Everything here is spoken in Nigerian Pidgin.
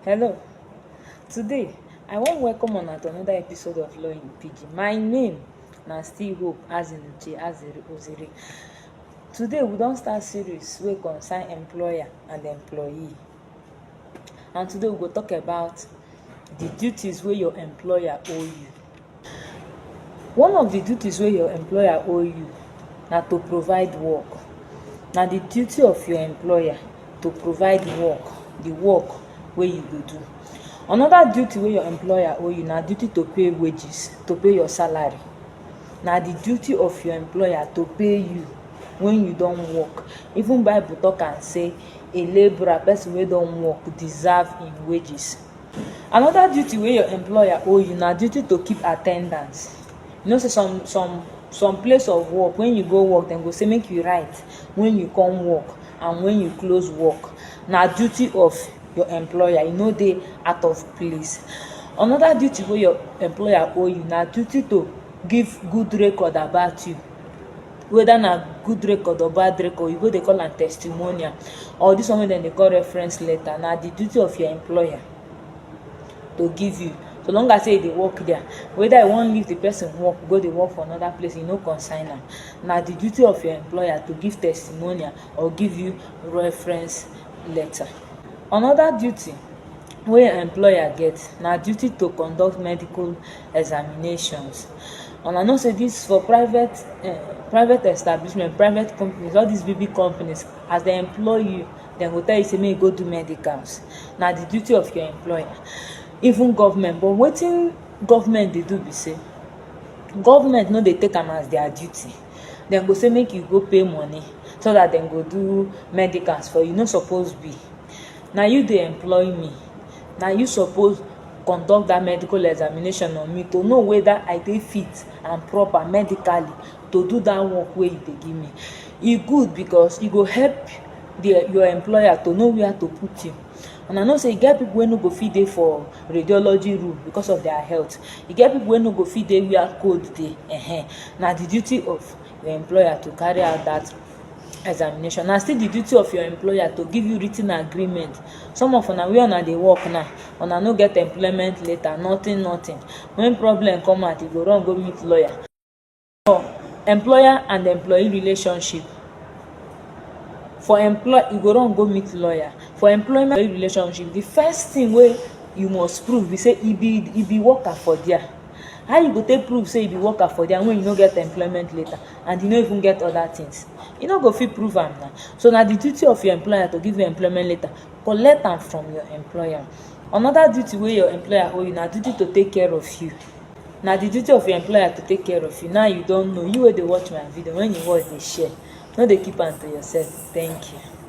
Hello. Today, I wan welcome una to another episode of Law in Pidgin. My name na still Hope Azinuche Azere Ozere. Today, we don start series wey concern employer and employee. And today, we go talk about the duties wey your employer owe you. One of di duties wey your employer owe you na to provide work. Na di duty of your employer to provide work, di work wey you go do. Anoda duty wey your employer owe you na duty to pay wages, to pay your salary. Na di duty of your employer to pay you wen you don work. Even Bible tok am sey a laborer, pesin wey don work, deserve im wages. Another duty wey your employer owe you na duty to keep attendance. You know sey some some some place of work when you go work dem go say make you write when you come work and when you close work. Na duty of your employer, e no dey out of place. Another duty wey your employer owe you na duty to give good record about you. whether na good record or bad record you go dey call am testimonial or this one wey dem dey call reference letter na the duty of your employer to give you so long as say you dey work there whether you wan leave the person work go dey work for another place e no concern am na the duty of your employer to give testimonial or give you reference letter another duty wey employer get na duty to conduct medical examinations and i know say this for private eh, private establishment private companies all these big big companies as they employ you dem go tell you say make you go do medicals na the duty of your employer even government but wetin government dey do be say government no dey take am as their duty dem go say make you go pay money so that dem go do medicals for you no suppose be na you dey employ me na you suppose conduct dat medical examination on me to know weda I dey fit and proper medically to do dat work wey you dey give me. E good because e go help di your employer to know where to put you. Una know sey e get pipu wey no go fit dey for radiology room because of dia health. E get pipu wey no go fit dey where cold dey um. Na di duty of your employer to carry out dat examination na still di duty of your employer to give you writ ten agreement some of una where una dey work now una no get employment letter nothing nothing when problem come out you go run go meet lawyer for employer and employee relationship for employ you go run go meet lawyer for employment relationship the first thing wey you must prove be say e be e be worker for there how you go take prove say you be worker for there when you no get employment letter and you no even get other things you no go fit prove am na so na the duty of your employer to give you employment letter collect am from your employer another duty wey your employer owe you na duty to take care of you na the duty of your employer to take care of you now you don know you wey dey watch my video when you watch dey share no dey keep am to yourself thank you